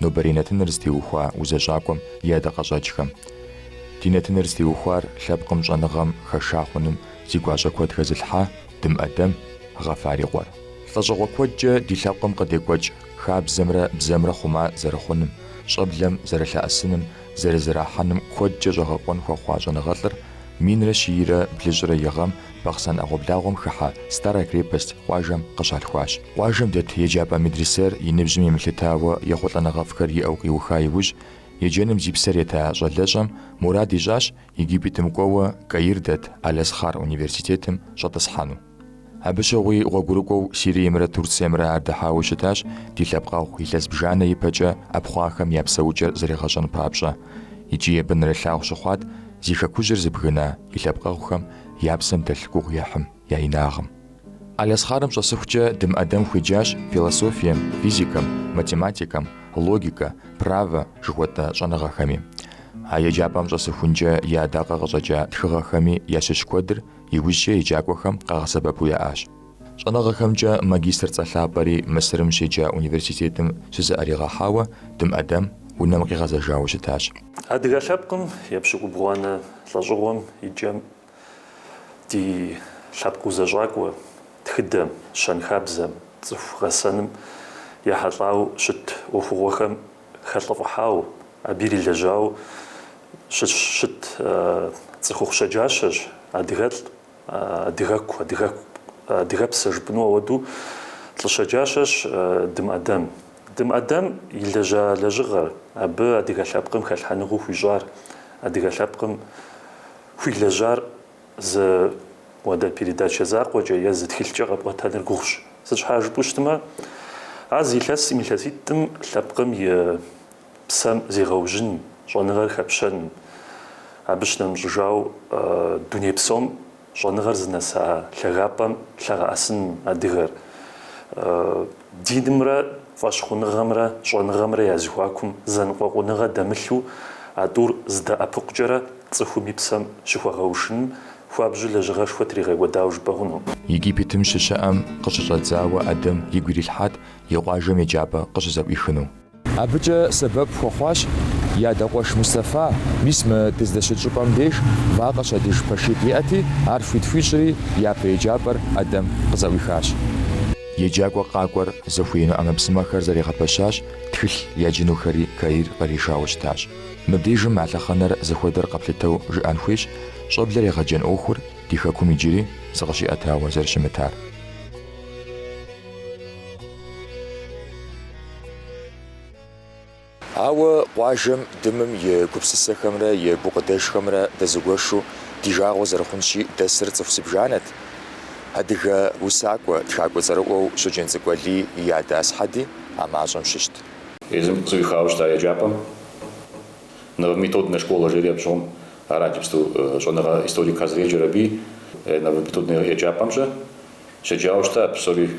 Нобэрей нэтыныр зытеухуа узэщӏакӏуэм и ӏэдакъэщӏэкӏхэм. Ди нэтыныр зытеухуар лъэпкъым щӏэныгъэм хэша хъуным зи гуащӏэ куэд хэзылъхьа Дым ӏэдэм Гъэфар и къуэр. Лӏэщӏыгъуэ куэдкӏэ ди лъэпкъым къыдекӏуэкӏ хабзэмрэ бзэмрэ хъума зэрыхъуным, щӏэблэм зэрылъэӏэсыным, зэрызэрахьэным куэдкӏэ щӏэгъэкъуэн хуэхъуа щӏэныгъэлӏыр минрэ щийрэ блыщӏрэ и гъэм Бахъсэн ӏэгъуэблагъуэм хыхьэ Старая крепость къуажэм къыщалъхуащ. Къуажэм дэт еджапӏэ медресэр и ныбжьым емылъытауэ ехъулӏэныгъэфӏхэр иӏэу къиуха иужь, еджэным зи псэр ета щӏалэщӏэм мурад ищӏащ Египетым кӏуэуэ Каир дэт Аль-Азхъар университетым щӏэтӏысхьэну. Абы щыгъуи гъуэгурыкӏуэу Сириемрэ Турциемрэ ар дыхьауэ щытащ ди лъэпкъэгъу илъэс бжанэ ипэкӏэ ӏэпхъуахэм я псэукӏэр зэригъэщӏэн папщӏэ, икӏи абы нэрылъагъу щыхъуат зи хэкужьыр зыбгына и лъэпкъэгъухэм я псэм дэлъ гугъуехьым я инагъым. Аль-Азхъарым щӏэсыхукӏэ Дым ӏэдэм хуеджащ философием, физикэм, математикэм, логикэ, правэ жыхуэтӏэ щӏэныгъэхэми. А еджапӏэм щӏэсыхункӏэ и ӏэдакъэ къыщӏэкӏа тхыгъэхэми ящыщ куэдыр Иужькӏэ еджакӏуэхэм къагъэсэбэпу яӏащ. Щӏэныгъэхэмкӏэ магистр цӏэ лъапӏэри Мысырым щеджа университетым щызыӏэригъэхьауэ Дым ӏэдэм унэм къигъэзэжауэ щытащ. Адыгэ лъэпкъым епщыкӏубгъуанэ лӏэщӏыгъуэм и кӏэм ди лъэпкъ узэщӏакӏуэ тхыдэм, щэнхабзэм, цӏыху гъэсэным ехьэлӏауэ щыт ӏуэхугъуэхэм хэлӏыфӏыхьауэ, абы ирилэжьау щыщ щыт цӏыхухъу щэджащэщ, адыгэлӏ, адыгэгу, адыгэгу, адыгэпсэ жыпӏэну ауэдэу лӏы щэджащэщ Дым ӏэдэм. Дым ӏэдэм илэжьа лэжьыгъэр, абы адыгэ лъэпкъым хэлъхьэныгъэу хуищӏар, адыгэ лъэпкъым хуилэжьар зы уэдэ передачэ закъуэкӏэ е зы тхылъкӏэ къэпӏуэтэныр гугъущ. Сыт щхьа жыпӏэу щытмэ, а зы илъэсым, илъэситӏым лъэпкъым и псэм зегъэужьын, щӏэныгъэр хэпщэн, абы щынэмыщӏыжау дуней псом щӏэныгъэр зынэса лъагапӏэм лъэгъэӏэсын адыгэр. Динымрэ фӏэщхъуныгъэмрэ щӏэныгъэмрэ я зэхуакум зэныкъуэкъуныгъэ дэмылъу а тӏур здэӏэпыкъукӏэрэ цӏыхум и псэм щыхуэгъэушыным хуабжьу лэжьыгъэшхуэ тригъэкӏуэдауэ жыпӏэ хъуну? Египетым щыщыӏэм къыщыщӏэдзауэ ӏэдэм игу ирилъхьат и къуажэм еджапӏэ къыщызэӏуихыну. Абыкӏэ сэбэп хуэхъуащ и адэ къуэш Мустэфа, мис мы дыздэщыт щӏыпӏэм деж вакъэ щадыж пэшитӏ иӏэти, ар хуит хуищӏри япэ еджапӏэр ӏэдэм къызэӏуихащ. Еджакӏуэ къакӏуэр зыхуеину ӏэмэпсымэхэр зэригъэпэщащ, тхылъ яджынухэри Каир къришауэ щытащ. Мыбдежым а лъэхъэнэр зыхуэдэр къэплъытэу жыӏэн хуейщ, щӏэблэр егъэджэн ӏуэхур ди Хэкум иджыри зыкъыщиӏэтауэ зэрыщымытар. Ауэ къуажэм дымым и гупсысэхэмрэ и гукъыдэжхэмрэ дэзыгуэшу ди жагъуэ зэрыхъунщи дэсыр цӏыху зыбжанэт. Адыгэ усакӏуэ, тхакӏуэ цӏэрыӏуэу Щоджэнцӏыкӏу Алий и адэ Асхьэди а мащӏэм щыщт. Езым къызэӏуихауэ щыта еджапӏэм новометоднэ школэ жери абы щыгъуэм арат иджыпсту щӏэныгъэ историкхэ зэреджэр абы. Новометоднэ еджапӏэм ще щеджауэ щыта псори.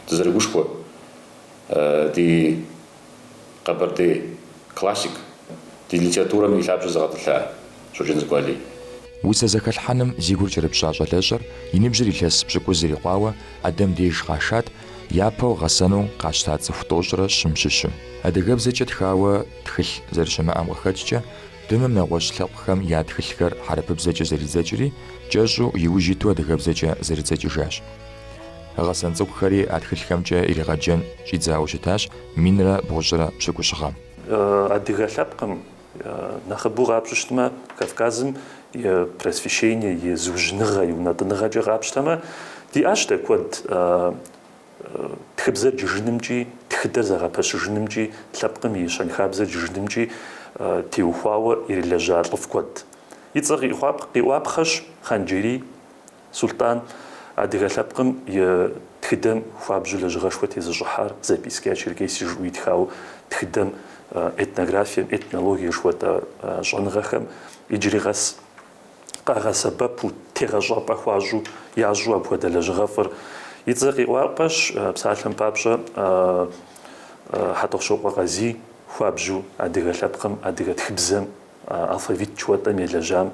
дызэрыгушхуэ ди Къэбэрдей классик, ди литературэм и лъабжьэ зыгъэтӏылъа Щоджэнцӏыкӏу Алий. Усэ зэхэлъхьэным зи гур кӏэрыпщӏа щӏалэщӏэр и ныбжьыр илъэс пщыкӏуз ирикъуауэ ӏэдэм деж къашат, япэу гъэсэну къащта цӏыху тӏощӏрэ щым щыщу. Адыгэбзэкӏэ тхауэ тхылъ зэрыщымыӏэм къыхэкӏкӏэ, Дымым нэгъуэщӏ лъэпкъхэм я тхылъхэр хьэрыпыбзэкӏэ зэридзэкӏри, кӏэщӏу, иужь иту адыгэбзэкӏэ зэридзэкӏыжащ. Гъэсэн цӏыкӏухэри а тхылъхэмкӏэ иригъэджэн щӏидзауэ щытащ минрэ бгъущӏрэ пщыкӏущ гъэм. Адыгэ лъэпкъым, нэхъыбэу къапщтэу щытмэ, Кавказым и просвещение, и зыужьыныгъэ, и унэтӏыныгъэкӏэ къапщтэмэ, диӏащ дэ куэд тхыбзэр джыжынымкӏи, тхыдэр зэгъэпэщыжынымкӏи, лъэпкъым и щэнхабзэр джыжынымкӏи теухуауэ ирилэжьа лӏыфӏ куэд. И цӏэр къиӏуапхъэщ Хъанджэрий. Сулътӏан адыгэ лъэпкъым и тхыдэм хуабжьу лэжьыгъэшхуэ тезыщӏыхьар Записки о Черкесии жиӏэу итхауэ тхыдэм этнографием, этнологие жыхуэтӏэ щӏэныгъэхэм иджыри къэс къагъэсэбэпу, тегъэщӏапӏэ хуащӏу ящӏу апхуэдэ лэжьыгъэфӏыр и цӏэ къиӏуапхъэщ. Псалъэм папщӏэ, Хьэтӏохъущокъуэ Къазий хуабжьу адыгэ лъэпкъым, адыгэ тхыбзэм Алфавит жыхуэтӏэм елэжьам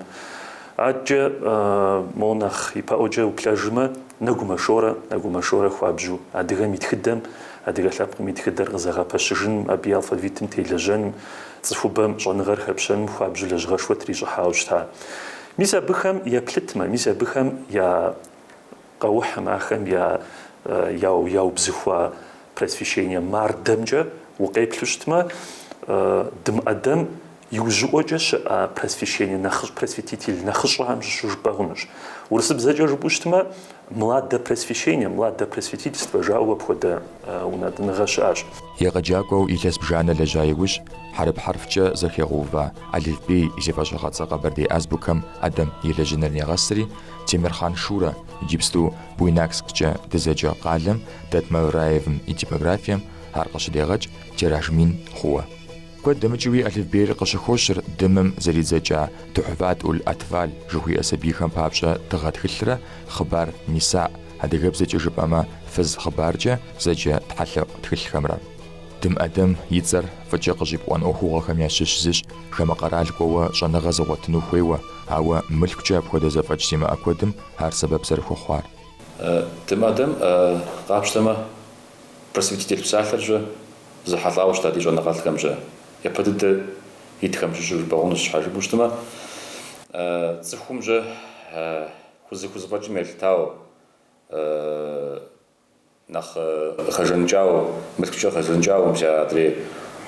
адэкӏэ мо нэхъ ипэӏуэкӏэ уплъэжмэ, Нэгумэ Шорэ, Нэгумэ Шорэ хуабжьу адыгэм и тхыдэм, адыгэ лъэпкъым и тхыдэр къызэгъэпэщыжыным, абы и алфавитым телэжьэным, цӏыхубэм щӏэныгъэр хэпщэным хуабжьу лэжьыгъэшхуэ трищӏыхьауэ щыта. Мис абыхэм еплъытмэ, мис абыхэм я Къэухьым ахэм я яубзыхуа просвещение мардэмкӏэ укъеплъу щытмэ, Дым ӏэдэм иужьыӏуэкӏэ щыӏа просвещение нэхъыщӏ, просветитель нэхъыщӏэхэм щыщу жыпӏэ хъунущ. Урысыбзэкӏэ жыпӏэу щытмэ, младопросвещение, младопросветительство жаӏэу апхуэдэ унэтӏыныгъэ щыӏэщ. Егъэджакӏуэу илъэс бжанэ лэжьа иужь, хьэрып хьэрфкӏэ зэхэгъэува алыфбей зи фӏэщыгъэцӏэ къэбэрдей азбукэм ӏэдэм елэжьыныр негъэсри, Темирхъан Шурэ, иджыпсту Буйнаксккӏэ дызэджэ къалэм дэт Мавраевым и типографием ар къыщыдегъэкӏ тираж мин хъууэ. Куэд дэмыкӏыуи алыфбейр къыщыхощыр Дымым зэридзэкӏа Тухьфат уль Атфаль жыхуиӏэ сабийхэм папщӏэ тыгъэ тхылърэ Хъыбар Ниса, адыгэбзэкӏэ жыпӏэмэ Фыз хъыбаркӏэ зэджэ тхьэлъэӏу тхылъхэмрэ. Дым Адэм и цӏэр фӏыкӏэ къыщӏипӏуэн ӏуэхугъуэхэм ящыщ зыщ, хамэ къэрал кӏуэуэ щӏэныгъэ зыгъуэтыну хуейуэ, ауэ мылъкукӏэ апхуэдэ зэфӏэкӏ зимыӏэ куэдым ар сэбэп зэрыхуэхъуар. Дым Адэм къапщтэмэ, просветитель псалъэр щэ зэхьэлӏауэ щыта ди щӏэныгъэлӏхэм щэ япэ дыдэ итхэм щыщу жыпӏэ хъунущ, щхьэ жыпӏэу щытмэ, цӏыхум щэ хузэ- хузэфӏэкӏым елъытауэ, Нэхъ хэжаныкӏауэ, мылъкукӏэ хэжаныкӏауэ мис адрей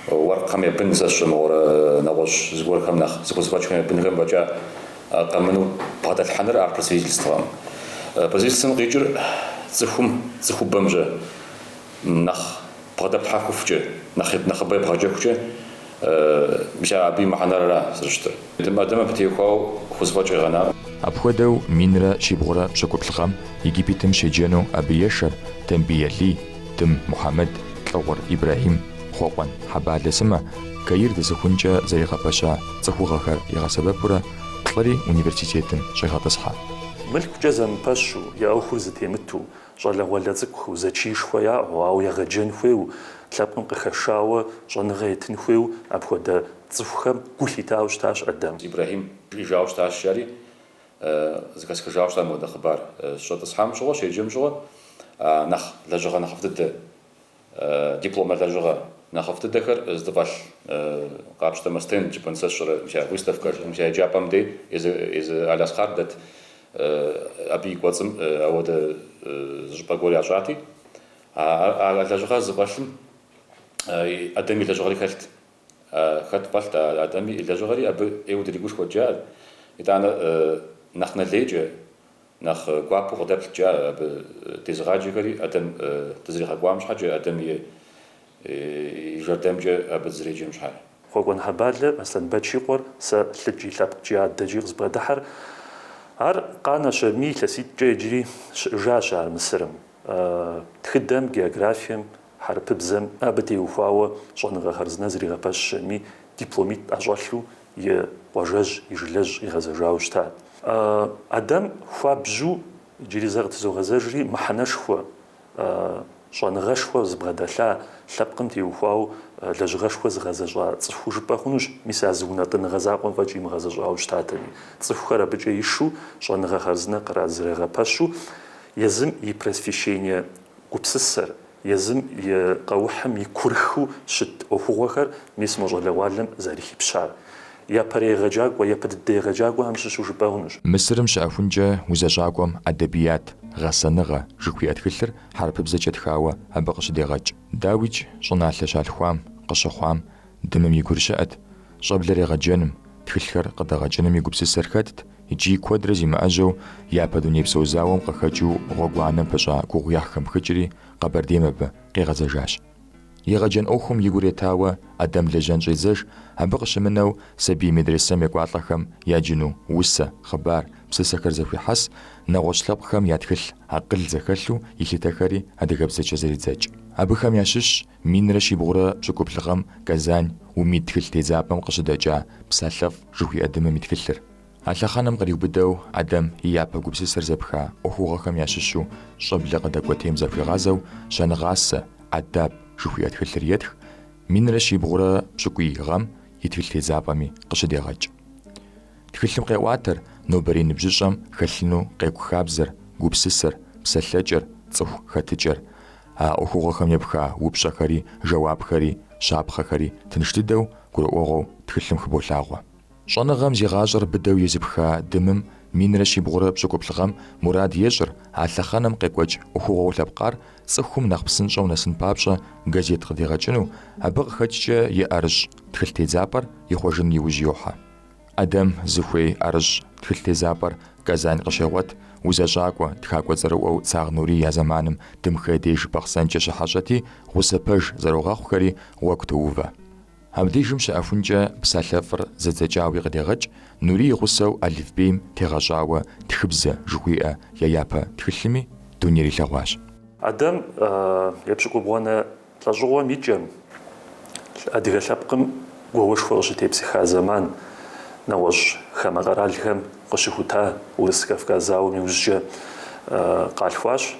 уэркъхэм я бын сэ сщӏэ мыгъуэрэ нэгъуэщӏ зыгуэрхэм нэхъ зыхузэфӏэкӏхэм я бынхэм фӏэкӏа къэмыну бгъэдэлъхьэныр ар Просветительствэкъым. Просветительствэм къикӏыр цӏыхум, цӏыхубэм щэ нэхъ. бгъэдэплъхьэфыхукӏэ, нэхъ нэхъыбэ ебгъэджэхукӏэ мис абы и мыхьэнэрра зэрыщытыр. Дым Адэм абы теухуауэ хузэфӏэкӏ къигъэнакъым. Апхуэдэу минрэ щибгъурэ пщыкӏуплӏ гъэм Египетым щеджэну абы ешэр Тембий Алий, Дым Мухьэмэд, Лӏыгъур Ибрэхьим, Хъуэкъуэн Хьэбалэ сымэ, Каир дэсыхункӏэ зэригъэпэща цӏыхугъэхэр игъэсэбэпурэ плӏыри университетым щӏегъэтӏысхьэ. Мылъкукӏэ зэмыпэщу, я ӏуэхур зытемыту, Щӏалэгъуалэ цӏыкӏуу зэчиишхуэ яӏэу, ауэ егъэджэн хуейу, лъэпкъым къыхэшауэ щӏэныгъэ етын хуейу апхуэдэ цӏыхухэм гу лъитауэ щытащ Адэм. Ибрэхьим жиӏэжауэ щытащ жари, зэхэсхыжауэ щытащ мыуэдэ хъыбар щӏэтӏысхьам щыгъуэ, щеджэм щыгъуэ, а нэхъ лэжьыгъэ нэхъыфӏ дыдэ. дипломэ лэжьыгъэ нэхъыфӏ дыдэхэр здыфӏэлъ къапщтэмэ, стенд жыпӏэн, сэ сщӏэрэ мис а выставкэр мис а еджапӏэм дей езы Аль-Азхьар дэт абы и кӏуэцӏым ауэдэ зы щӏыпӏэ гуэр ящӏати а лэжьыгъэр здыфӏэлъым Адэм и лэжьыгъэри хэлът хэт фӏэлът а Адэм и лэжьыгъэри абы ӏейуэ дыригушхуэт жиӏа итӏанэ нэхъ нэлейкӏэ Нэхъ гуапэу къыдэплът, жиӏа, абы дезыгъаджэхэри, Адэм дызэригъэкӏуам щхьэкӏэ, Адэм и жэрдэмкӏэ абы дызэреджэм щхьэкӏэ. Хъуэкъуэн Хьэбалэ Аслъэнбэч и къуэр сэ лъыкӏи лъэпкъкӏи адэкӏи къызбгъэдыхьэр. Ар къанэщ аби илъэситӏкӏэ иджыри щыӏэжащ ар Мысырым. Тхыдэм, географием, хьэрыпыбзэм абы теухуауэ щӏэныгъэ хъарзынэ зригъэпэщщ аби, дипломитӏ ӏэщӏэлъу и къуажэжь, и жылэжь къигъэзэжауэ щытат. Адэм хуабжьу иджыри зэ къытызогъэзэжри, мыхьэнэшхуэ, щӏэныгъэшхуэ зыбгъэдэлъа, лъэпкъым теухуауэ лэжьыгъэшхуэ зыгъэзэщӏа цӏыхуу жыпӏэ хъунущ, мис а зы унэтӏыныгъэ закъуэм фӏэкӏ имыгъэзэщӏауэ щытатэми. Цӏыхухэр абыкӏэ ишу щӏэныгъэ хъарзынэ къызэригъэпэщу Езым и просвещение гупсысэр, езым и къэухьым и курыхыу щыт ӏуэхугъуэхэр мис мо щӏалэгъуалэм зэрыхипщар япэрей егъэджакӏуэ, япэ дыдэ егъэджакӏуэхэм щыщу жыпӏэ хъунущ. Мысырым щыӏэхункӏэ узэщӏакӏуэм Адэбият, гъэсэныгъэ, жыхуиӏэ тхылъыр хьэрыпыбзэкӏэ тхауэ абы къыщыдегъэкӏ. Дауикӏ щӏыналъэ щалъхуам, къыщыхъуам, Дымым и гур щыӏэт щӏэблэр егъэджэным, тхылъхэр къыдэгъэкӏыным и гупсысэр хэтт икӏи куэдрэ зимыӏэжьэу япэ дунейпсо зауэм къыхэкӏыу гъуэгуанэм пыщӏа гугъуехьхэм пхыкӏри Къэбэрдейм абы къигъэзэжащ. Егъэджэн ӏуэхум и гур етауэ Адэм лэжьэн щӏедзэж, абы къыщымынэу сабий медресэм екӏуалӏэхэм яджыну усэ, хъыбар, псысэхэр зэхуихьэс, нэгъуэщӏ лъэпкъхэм я тхылъ, акъыл зэхэлъу илъытэхэри адыгэбзэкӏэ зэридзэкӏ. Абыхэм ящыщщ Минрэ щибгъурэ пщӏыкӏуплӏ гъэм Казань Умид тхылъ тедзапӏэм къыщыдэкӏа Псалъэфӏ жыхуиӏэ Дымым и тхылъыр. А лъэхъэнэм къриубыдэу Адэм и япэ гупсысэр зэпха ӏуэхугъуэхэм ящыщу щӏэблэ къыдэкӏуэтейм захуигъазэу Щэныгъасэ, ӏэдаб, жыхуиӏэ тхылъыр етх, минрэ щибгъурэ пщӏыкӏуий гъэм и тхылъ тедзапӏэми къыщыдегъэкӏ. Тхылъым къеӏуатэр нобэрей ныбжьыщӏэм хэлъыну къекӏу хабзэр, гупсысэр, псэлъэкӏэр, цӏыху хэтыкӏэр. А ӏуэхугъуэхэм епха упщӏэхэри, жэуапхэри, щапхъэхэри тынш дыдэу, гурыӏуэгъуэу тхылъым хыболъагъуэ. Щӏэныгъэм зи гъащӏэр быдэу езыпха Дымым минрэ щибгъурэ пщӏыкӏуплӏ гъэм мурад ещӏыр, а лъэхъэнэм къекӏуэкӏ ӏуэхугъуэу лъэпкъар цӏыхум нэхъ псынщӏэу нэсын папщӏэ газет къыдигъэкӏыну, абы къыхэкӏкӏэ и ӏэрыщӏ тхылъ тедзапӏэр ихъуэжын иужь йохьэ. ӏэдэм зыхуей ӏэрыщӏ тхылъ тезапӏэр Казань къыщегъуэт, узэщӏакӏуэ, тхакӏуэ цӏэрыӏуэу Цагъ Нурий а зэманым Дымхэ деж Бахъсэнкӏэ щыхьэщӏэти, гъусэ пэж зэрогъэхъухэри гъуэгу тоувэ. Абдежым щыӏэхункӏэ псалъэфӏыр зэдзэкӏауи къыдегъэкӏ, Нурий и гъусэу алыфбейм тегъэщӏауэ Тхыбзэ жыхуиӏэ я япэ тхылъми дунейр илъэгъуащ. ӏэдэм епщыкӏубгъуанэ Лӏэщӏыгъуэм и кӏэм, адыгэ лъэпкъым гуауэшхуэ къыщытепсыха зэман, нэгъуэщӏ хамэ къэралхэм къыщыхута Урыс-Кавказ зауэм иужькӏэ къалъхуащ.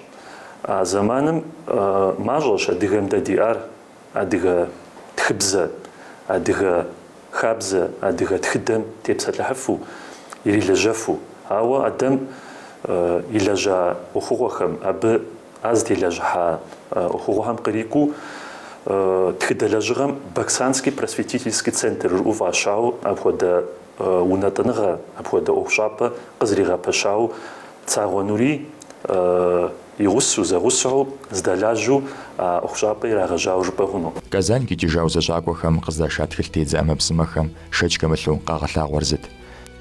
А зэманым мащӏэщ адыгэм дэ диӏар адыгэ тхыбзэ, адыгэ хабзэ, адыгэ тхыдэм тепсэлъыхьыфу, ирилэжьэфу. Ауэ Адэм илэжьа ӏуэхугъуэхэм, абы Ар зытелэжьыхьа ӏуэхугъуэхэм кърикӏуэу тхыдэ лэжьыгъэм Баксанский просветительский центр жыӏэу фӏащауэ апхуэдэ унэтӏыныгъэ, апхуэдэ ӏуэхущӏапӏэ къызэригъэпэщауэ Цагъуэ Нурий и гъусэу, зэгъусэу здэлажьэу а ӏуэхущӏапӏэ ирагъэжьауэ жыпӏэ хъуну. Казань къикӏыжа узэщӏакӏуэхэм къыздаша тхылътедзэ ӏэмэпсымэхэм шэч хэмылъу къагъэлъагъуэр зыт: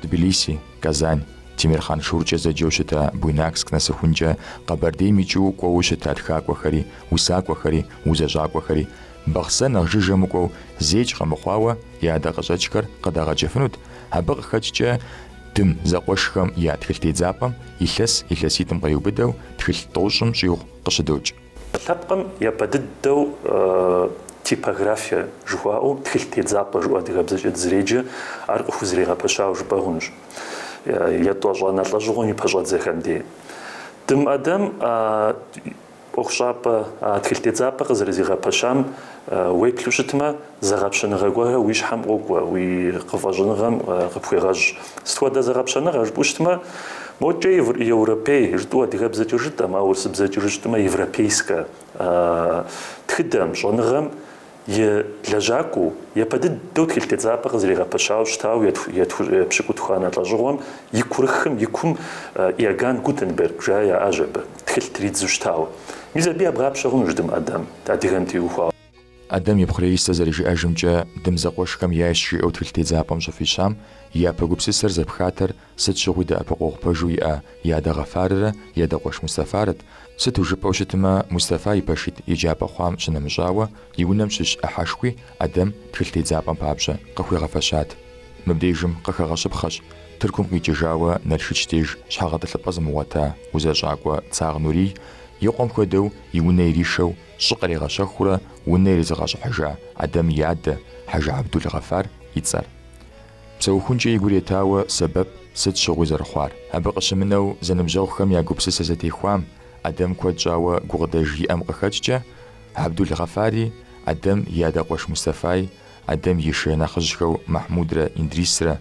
Тбилиси, Казань, Темирхъан Шуркӏэ зэджэу щыта Буйнакск нэсыхункӏэ Къэбэрдейм икӏыу кӏуэуэ щыта тхакӏуэхэри, усакӏуэхэри, узэщӏакӏуэхэри, Бахъсэ нэхъ жыжьэ мыкӏуэу зэикӏ къэмыхъуауэ я ӏэдакъэщӏэкӏхэр къыдагъэкӏыфынут, абы къыхэкӏкӏэ Дым зэкъуэшхэм я тхылъ тедзапӏэм илъэс илъэситӏым къриубыдэу тхылъ тӏощӏым щӏигъу къыщыдокӏ. Лъэпкъым япэ дыдэу типографие жыхуаӏэу тхылъ тедзапӏэ жыӏэу адыгэбзэкӏэ дызэреджэ, ар къыхузэригъэпэщауэ жыпӏэ хъунущ. Етӏощӏанэ лӏэщӏыгъуэм и пэщӏэдзэхэм дей. Дым ӏэдэм ӏуэхущӏапӏэ тхылъ тедзапӏэ къызэрызигъэпэщам уеплъу щытмэ, Зэгъэпщэныгъэ гуэрхэр уи щхьэм къокӏуэ, уи къыфӏэщӏыныгъэм къыпхуегъэщӏ. Сыт хуэдэ зэгъэпщэныгъэ жыпӏэу щытмэ, мокӏэ европей жытӏэу адыгэбзэкӏэ жытӏэм, ауэ урысыбзэкӏэ жытӏэу щытмэ, европейскэ тхыдэм, щӏэныгъэм и лэжьакӏуэу, япэ дыдэу тхылъ тедзапӏэ къызэригъэпэщауэ щытауэ епщыкӏутхуанэ лӏэщӏыгъуэм и курыхым, и кум Иоганн Гутенберг жаӏэу яӏащ абы, тхылъ тридзу щытауэ. Мис абы ебгъапщэ хъунущ Дым ӏэдэм адыгэм теухуауэ. Адэм и пхъу Раисэ зэрыжиӏэжымкӏэ, Дым зэкъуэшхэм яйщ жиӏэу тхылъ тедзапӏэм щӏыфӏищам, япэ гупсысэр зэпхатэр сыт щыгъуи дэӏэпыкъуэгъу пэжу иӏэ и адэ Гъэфаррэ и адэ къуэш Мустафарэт, сыту жыпӏэу щытмэ, Мустафа и пэшитӏ еджапӏэ хъуам щынэмыщӏауэ, и унэм щыщ ӏыхьэшхуи Адэм тхылъ тедзапӏэм папщӏэ къыхуигъэфэщат. Мыбдежым къыхэгъэщыпхъэщ Тыркум къикӏыжауэ Налшыч деж щхьэгъэтӏылъыпӏэ зымыгъуэта узэщӏакӏуэ Цагъуэ Нурий, и къуэм хуэдэу и унэ иришэу Щӏы къригъэщэхуурэ унэ иризыгъэщӏыхьыжа Адэм и адэ Хьэжы Абдул Гъэфар и цӏэр. Псэухункӏэ и гур етауэ сэбэп сыт щыгъуи зэрыхъуар. Абы къыщымынэу зэныбжьэгъухэм я гупсысэ зэтехуам Адэм куэд щӏауэ гукъыдэж иӏэм къыхэкӏкӏэ, Абдул Гъэфари, Адэм и адэ къуэш Мустэфаи, Адэм и шынэхъыжьхэу Махьмудрэ Индрисрэ,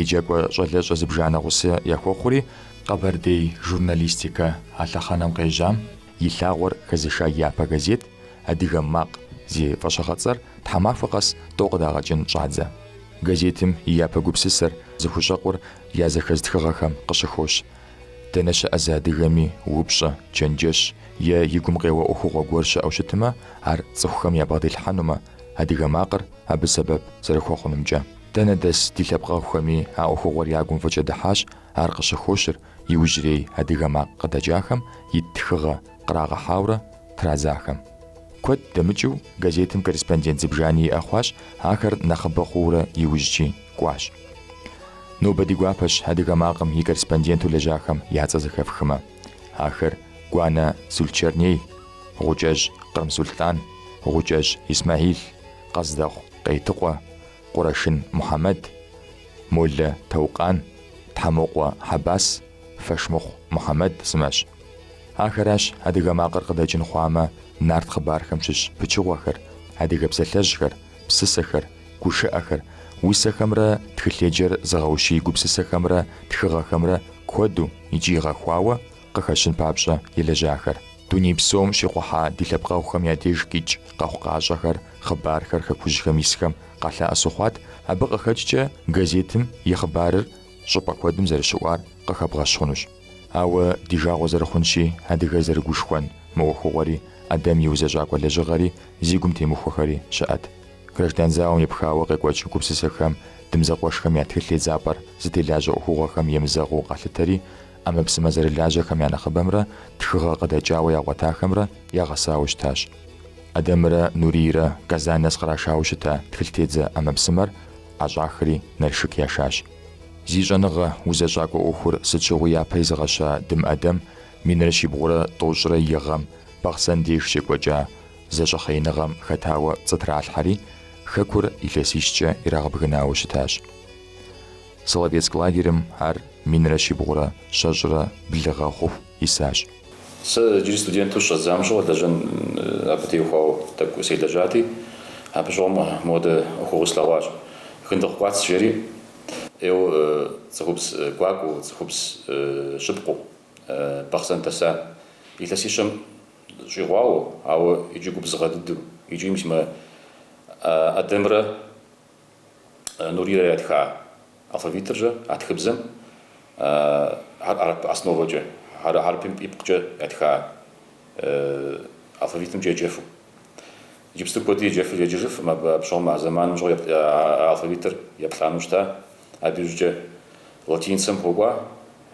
еджакӏуэ щӏалэщӏэ зыбжанэ гъусэ яхуэхъури, Къэбэрдей журналистикэ а лъэхъэнэм къежьам И лъагъуэр хэзыша япэ газет Адыгэ макъ зи фӏэщыгъэцӏэр тхьэмахуэ къэс тӏэу къыдагъэкӏын щӏадзэ. Газетым и япэ гупсысэр зыхущӏэкъур я зэхэз тхыгъэхэм къыщыхощ. Дэнэ щыӏэ зы адыгэми упщӏэ, чэнджэщ е и гум къеуэ ӏуэхугъуэ гуэр щыӏэу щытымэ, ар цӏыхухэм ябгъэдилъхьэнумэ, Адыгэ макъыр абы сэбэп зэрыхуэхъунумкӏэ. Дэнэ дэс ди лъэпкъэгъухэми а ӏуэхугъуэр я гум фӏыкӏэ дыхьащ, ар къыщыхощыр Иужьрей адыгэ макъ къыдэкӏахэм ит тхыгъэ кърагъэхьаурэ традзахэм. Куэд дэмыкӏыу газетым корреспондент зыбжани иӏэ хъуащ, ахэр нэхъыбэ хъуурэ иужькӏи кӏуащ. Нобэ ди гуапэщ адыгэ макъым и корреспонденту лэжьахэм я цӏэ зэхэфхымэ. Ахэр Гуанэ Сулчэрней, Гъукӏэжь Кърымсулътӏан, Гъукӏэжь Исмаил, Къэздэхъу Къейтыкъуэ, Къурэшын Мухьэмэд, Молэ Таукъан, Тхьэмокъуэ Хьэбас, Фэшмыхъу Мухьэмэд сымэщ. Ахэращ адыгэ макъыр къыдэкӏын хъуамэ нарт хъыбархэм щыщ пычыгъуэхэр, адыгэ псалъэжьхэр, псысэхэр, гушыӏэхэр, усэхэмрэ тхылъеджэр зыгъэущий гупсысэхэмрэ тхыгъэхэмрэ куэду икӏи гъэхуауэ Къыхэщын папщӏэ елэжьахэр. Дуней псом щикъухьа ди лъэпкъэгъухэм я деж къикӏ къэхъукъащӏэхэр, хъыбархэр хэкужьхэм исхэм къалъэӏэсу хъуат, абы къыхэкӏкӏэ газетым и хъыбарыр щӏыпӏэ куэдым зэрыщыӏуар къыхэбгъэщ хъунущ. Ауэ ди жагъуэ зэрыхъунщи, адыгэр зэрыгушхуэн мы ӏуэхугъуэри, Ӏэдэм и узэщӏакӏуэ лэжьыгъэри, зи гум темыхуэхэри щыӏэт. Граждан зауэм епхауэ къекӏуэкӏ гупсысэхэм, Дым зэкъуэшхэм я тхылъ тедзапӏэр зытелажьэ ӏуэхугъуэхэм емызэгъыу къалъытэри, ӏэмэпсымэ зэрылажьэхэм я нэхъыбэмрэ тхыгъэ къыдэкӏауэ ягъуэтахэмрэ ягъэсауэ щытащ. Ӏэдэмрэ Нурийрэ Казань нэс кърашауэ щыта тхылътедзэ ӏэмэпсымэр ӏэщӏахри Налшык яшащ. Зи щӏэныгъэ, узэщӏакӏуэ ӏуэхур сыт щыгъуи япэ изыгъэща Дым Ӏэдэм минрэ щибгъурэ тӏощӏрэ и гъэм Бахъсэн деж щекӏуэкӏа зэщӏэхъеиныгъэм хэтауэ пцӏы тралъхьэри, Хэкур илъэсищкӏэ ирагъэбгынауэ щытащ. Соловецк лагерым ар минрэ щибгъурэ щэщӏрэ блы гъэ хъуху исащ. Сэ иджыри студентэу сыщӏэсам щыгъуэ лэжьэн абы теухуауэ тӏэкӏу селэжьати, абы щыгъуэм мыпхуэдэ ӏуэхугъуи слъэгъуащ. Хындыкъу Кӏуац жери ӏейуэ цӏыхубз гуакӏуэу, цӏыхубз щыпкъыу Бахъсэн дэса. Илъэсищэм щӏигъуауэ, ауэ икӏи губзыгъэ дыдэу, икӏи мис мы Ӏэдэмрэ Нурийрэ ятха алфавитыр-щэ а тхыбзэм хьэрып основэкӏэ, ар хьэрыпым ипкъкӏэ ятха алфавитымкӏэ еджэфу. Иджыпсту куэди еджэфыр еджэжыфым, абы апщыгъуэм, а зэманым щыгъуэ а алфавитыр еплӏанэу щыта, абы иужькӏэ латиницэм хуэкӏуа,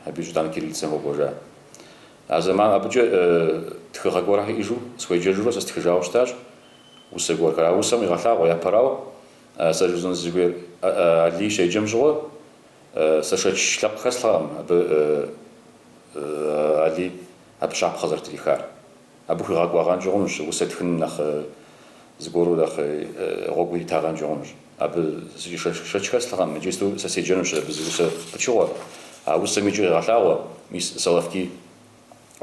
абы иужь итӏанэ кириллицэм хуэкӏуэжа. А зэман, абыкӏэ тхыгъэ гуэрхэр иӏэжу, схуеджэжурэ сэ стхыжауэ щытащ. Усэ гуэрхэр. А усэм игъэлъагъуэ, япэрауэ, сэ жысӏэну сызыхуейр Алий щеджэм щыгъуэ, сэ шэч лъэпкъ хэслъхьэкъым абы Алий абы щапхъэ зэрытрихар. Абы хуигъэкӏуагъэнкӏэ хъунущ, усэ тхыным нэхъ зыгуэру нэхъ гъуэгу иритагъэнкӏэ хъунущ. Абы сэ шэч хэслъхьэкъым, иджыпсту сэ седжэнущ абы зы усэ пычыгъуэ. А усэм иджы къегъэлъагъуэ, мис Соловки.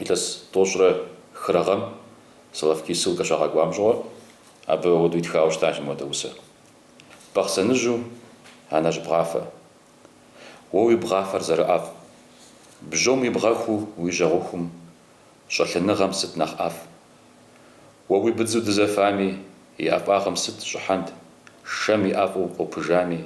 илъэс тӏощӏрэ хырэ гъэм Соловки ссылкэ щагъэкӏуам щыгъуэ, абы ауэдэу итхауэ щытащ мыуэдэ усэ. Бахъсэныжьу, анэжь бгъафэ. Уэ уи бгъафэр зэрыӏэфӏ. Бжьом уи бгъэхуу уи жьэгъухум, щӏэлъыныгъэм сыт нэхъ ӏэфӏ? Уэ уи быдзу дызэфами, и ӏэфӏагъым сыт щӏыхьэнт, шэм и ӏэфӏу къопыжами,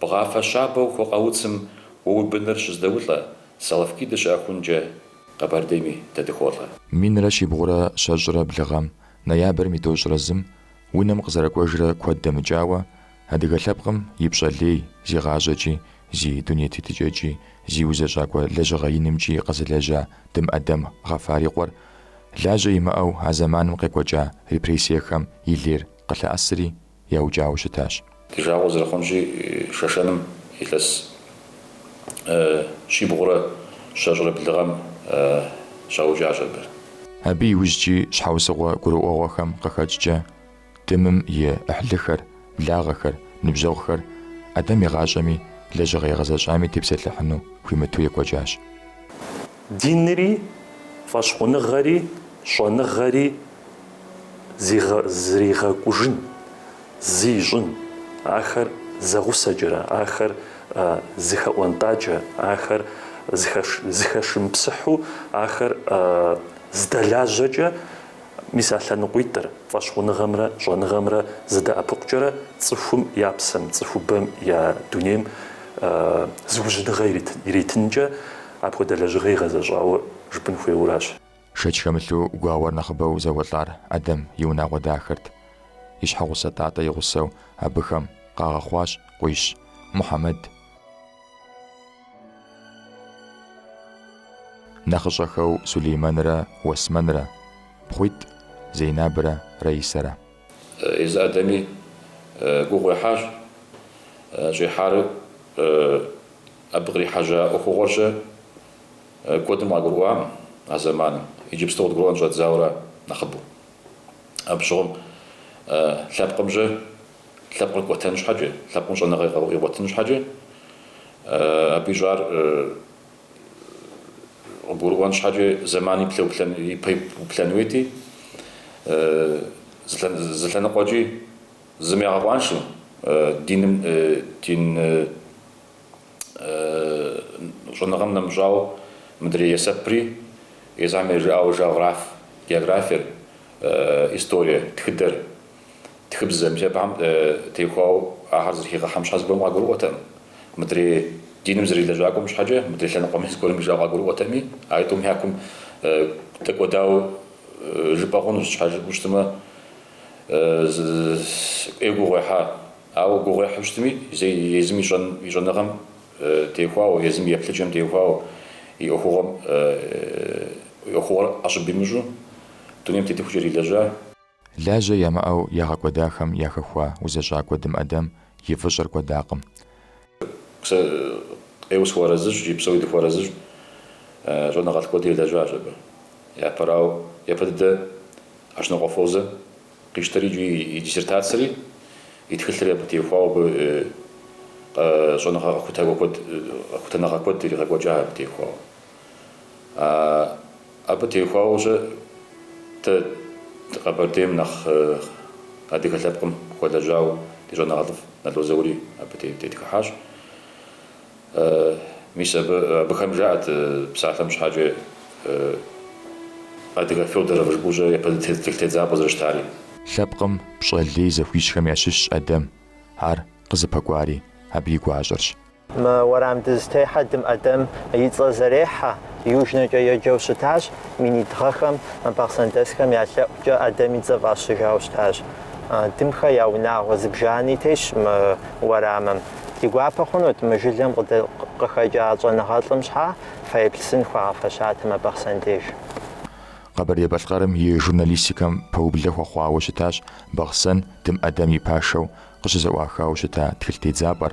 Бгъафэ щабэу хуэкъэуцым уэ уи быныр щыздэулӏэ, Соловки дыщыӏэхункӏэ Къэбэрдейми дэ дыхуолӏэ. Минрэ щибгъурэ щэщӏрэ блы гъэм, ноябрым и тӏощӏрэ зым, унэм къызэрыкӏуэжрэ куэд дэмыкӏауэ, адыгэ лъэпкъым и пщӏэ лей, зи гъащӏэкӏи, зи дунейтетыкӏэкӏи, зи узэщӏакӏуэ лэжьыгъэ инымкӏи къэзылэжьа Дым ӏэдэм Гъэфар и къуэр, лажьэ имыӏэу а зэманым къекӏуэкӏа репрессиехэм и лейр къылъэӏэсри, яукӏауэ щытащ. Ди жагъуэ зэрыхъунщи, Шэшэным илъэс щибгъурэ щэщӏрэ блы гъэм щаукӏащ абы. Абы иужькӏи щхьэусыгъуэ гурыӏуэгъуэхэм къыхэкӏкӏэ, Дымым и ӏыхьлыхэр, благъэхэр, ныбжьэгъухэр ӏэдэм и гъащӏэми лэжьыгъэ игъэзэщӏами тепсэлъыхьыну хуимыту екӏуэкӏащ. Динри, фӏэщхъуныгъэри, щӏэныгъэри. зригъэкӏужын, зы ищӏын, ахэр зэгъусэкӏэрэ, ахэр зыхэӏуэнтӏакӏэ, ахэр зыхэшымыпсыхьу, ахэр здэлажьэкӏэ, мис а лъэныкъуитӏыр, фӏэщхъуныгъэмрэ щӏэныгъэмрэ зэдэӏэпыкъукӏэрэ цӏыхум я псэм, цӏыхубэм я дунейм зыужьыныгъэ иритынкӏэ апхуэдэ лэжьыгъэ игъэзэщӏауэ жыпӏэн хуейуэращ. Шэч хэмылъу гуауэр нэхъыбэу зэуэлӏар ӏэдэм и унагъуэ дахэрт. И щхьэгъусэ Тӏатӏэ и гъусэу абыхэм къагъэхъуащ къуищ Мухьэмэд. Нэхъыщӏэхэу Сулеймэнрэ Уэсмэнрэ, пхъуитӏ Зейнабрэ Раисэрэ. Езы ӏэдэми гугъу ехьащ. Щӏехьар абы кърихьэжьа ӏуэхугъуэркӏэ куэдым къагурыӏуакъым а зэманым, иджыпсту къыдгурыӏуэн щӏэддзауэра нэхъыбэу. Абы щыгъуэм лъэпкъымкӏэ лъэпкъыр кӏуэтэн щхьэкӏэ, лъэпкъым щӏэныгъэ игъуэтын щхьэкӏэ, абы ищӏар къыбгурыӏуэн щхьэкӏэ зэман ипэ уплъэн уейти, зы лъэныкъуэкӏи зым игъэкъуаншэу диным, дин щӏэныгъэм нэмыщӏауэ мыдрей есэпри, езыхэм я жыӏауэ жагъраф, географиер, историе тхыдэр Тхыбзэ, мис абыхэм теухуауэ ахэр зэрыхигъэхьэм щхьэ зыгуэрым къагурыӏуэтэкъым. Мыдрей диным зэрилэжьакӏуэм щхьэкӏэ, мыдрей лъэныкъуэми зыгуэрым жиӏэу къагурыӏуэтэкъыми, а тӏум я кум дэкӏуэдауэ жыпӏэ хъунущ, щхьэ жыпӏэу щытмэ, ӏейуэ гугъу ехьа. Ауэ гугъу ехьу щытми, зэи езым и щӏэныгъэм теухуауэ, езым и еплъыкӏэм теухуауэ, и ӏуэхугъуэм, и ӏуэхугъуэр ӏэщӏыб имыщӏу дунейм тетыхукӏэ ирилэжьа. Лажьэ ямыӏэу ягъэкӏуэдахэм яхэхуа узэщӏакӏуэ Дым Ӏэдэм и фӏыщӏэр кӏуэдакъым. Сэ ӏейуэ сыхуэарэзыщ икӏи псори дыхуэарэзыщ щӏэныгъэлӏ куэди елэжьащ абы. Япэрауэ, япэ дыдэ Ащнокъуэ Фозэ къищтэри икӏи и диссертацэри, и тхылъри абы теухуауэ абы щӏэныгъэ къэхутэныгъэ куэд иригъэкӏуэкӏа абы теухуауэ. Абы теухуауэ-щэ дэ ди Къэбэрдейм нэхъ адыгэ лъэпкъым хуэлэжьауэ ди щӏэныгъэлӏыфӏ Нало Заури абы тетхыхьащ. Мис абы, абыхэм жаӏэт псалъэм щхьэкӏэ Адыгэ Фёдоров жыпӏэу-щэ япэ тедзапӏэу зэрыщытари. Лъэпкъым пщӏэ лей зыхуищӏхэм ящыщщ Ӏэдэм ар къызыпэкӏуари абы и гуащӏэрщ. Мы уэрам дызытехьэ Дым Ӏэдэм и цӏэр зэрехьэ Южнэкӏэ еджэу щытащ, минитӏ гъэхэм бахъсэндэсхэм я лъэӏукӏэ Ӏэдэм и цӏэ фӏащыжауэ щытащ. Дымхэ я унагъуэ зыбжани тещ мы уэрамым. Ди гуапэ хъунут мы жылэм къыхэкӏа щӏэныгъэлӏым щхьэ фэеплъ сын хуагъэфэщатэм а Бахъсэн деж. Къэбэрдей-Балъкъэрым и журналистикэм пэублэ хуэхъуауэ щытащ Бахъсэн Дым Ӏэдэм и пашэу къыщызэӏуахауэ щыта тхылъ тедзапӏэр,